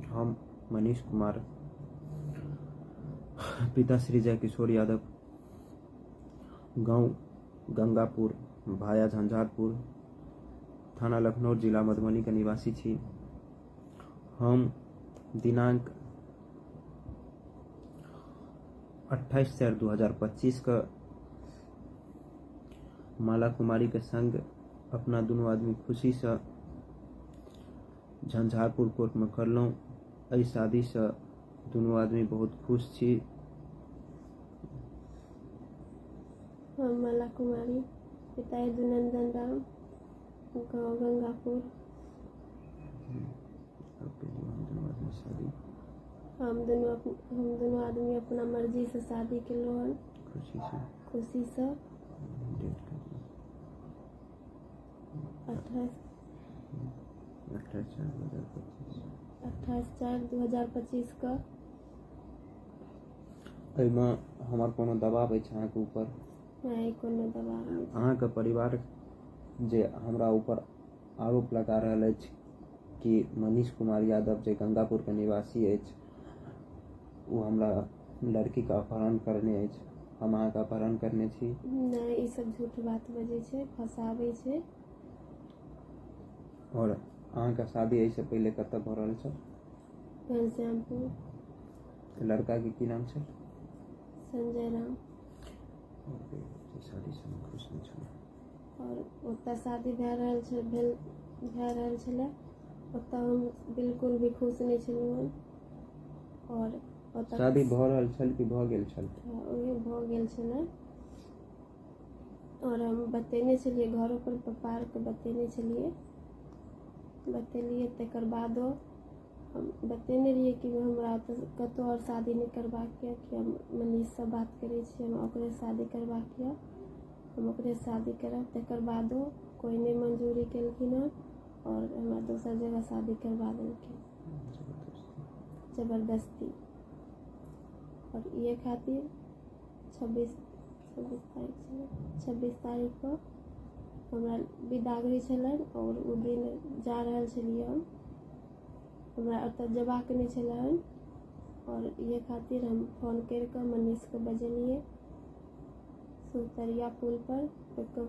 हम मनीष कुमार पिता श्री जय किशोर यादव गांव गंगापुर भाया झंझारपुर थाना लखनऊ जिला मधुबनी के निवासी छी हम दिनांक 28 चार 2025 के माला कुमारी के संग अपना दुनू आदमी खुशी से झंझारपुर कोर्टमे करलहुँ एहि शादीसँ दुनू आदमी बहुत खुश छी हम माला कुमारी पिता यदुनंदन राम गाँव गंगापुर हम दुनू हम दुनू आदमी अपना मर्जीसँ शादी केलहुँ हन खुशीसँ खुशीसँ अठाइस चारि दू हजार पच्चीस कऽ एहिमे हमर कोनो दबाव अछि अहाँके ऊपर नहि कोनो दबाव नहि छै। अहाँके परिवार जे हमरा ऊपर आरोप लगा रहल अछि कि मनीष कुमार यादव जे गंगापुरके निवासी अछि ओ हमरा लड़कीके अपहरण करने अछि हम अहाँके अपहरण करने छी नहि ई सब झूठ बात बजै छै फसाबै छै आओर अहाँके शादी एहिसँ पहिले कतऽ भऽ रहल छल घनश्यामपुर तऽ लड़काके की नाम छल संजय राम शादीसँ हम खुश नहि छलहुँ आओर ओतऽ शादी भए रहल छल भेल भए रहल छलै ओतऽ हम बिल्कुल भी खुश नहि छलहुँ हन आओर पता शादी भऽ रहल छल कि भऽ गेल छल ओहे भऽ गेल छलै आओर हम बतेने छलियै घरो पर पप्पा आरके बतेने छलियै बतेलियै तकर बादो हम बतेने रहियै कि हमरा तऽ कतहु आओर शादी नहि करबाक यऽ कि हम मनीषसँ बात करै छी हमरा ओकरे शादी करबाक यऽ हम ओकरे शादी करब तकर बादो कोइ नहि मंजूरी केलखिन हँ और हमरा दोसर जगह शादी करवा देलकै जबरदस्ती और ये खातिर छब्बीस छब्बीस तारीख छलै छब्बीस तारीख को हमरा बिदागरी छलनि और ओ दिन जा रहल छलियै हम हमरा ओतऽ जेबाक नहि छलै हन और ये खातिर हम फोन करि कऽ मनीषके बजेलियै सुतरिया पुल पर ओकर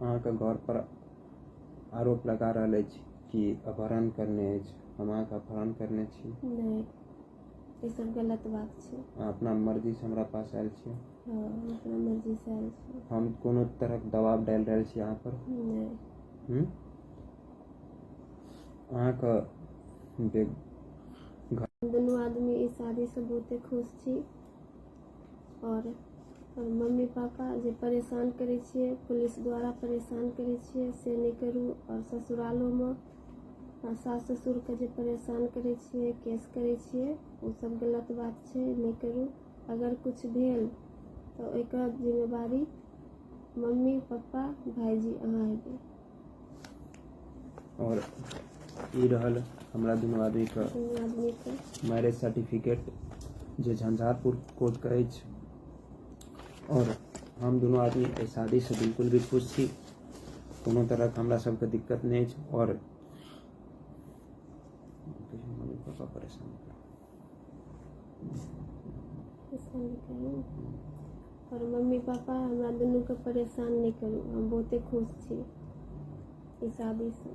अहाँके घर पर आरोप लगा रहल अछि कि अपहरण करने अछि हम अहाँके अपहरण करने छी नहि ई सब गलत बात छै अहाँ अपना मर्जी से हमरा पास आयल छी हँ अपना मर्जी से आयल छी हम कोनो तरहक दबाव डालि रहल छी अहाँ पर नहि हूँ? अहाँके बे- दुनू आदमी ई शादी से बहुते खुश छी आओर मम्मी पापा जे परेशान करै छियै पुलिस द्वारा परेशान करै छियै से नहि करू आओर ससुरालोमे सास ससुरके जे परेशान करै छियै केस करै छियै ओ सब गलत बात छै नहि करू अगर किछु भेल तऽ ओहिके जिम्मेवारी मम्मी पप्पा भायजी अहाँ हेबै और ई रहल हमरा दुनू आदमी के दुनू आदमी के मैरिज सर्टिफिकेट जे झंझारपुर कोर्ट के अछि और हम दुनू आदमी एहि शादी से बिल्कुल भी खुश छी कोनो तरह के हमरा सबके दिक्कत नहि अछि और मम्मी पापा परेशान और मम्मी पापा हमरा दुनू के परेशान नहीं करू हम बहुते खुश छी ई शादी से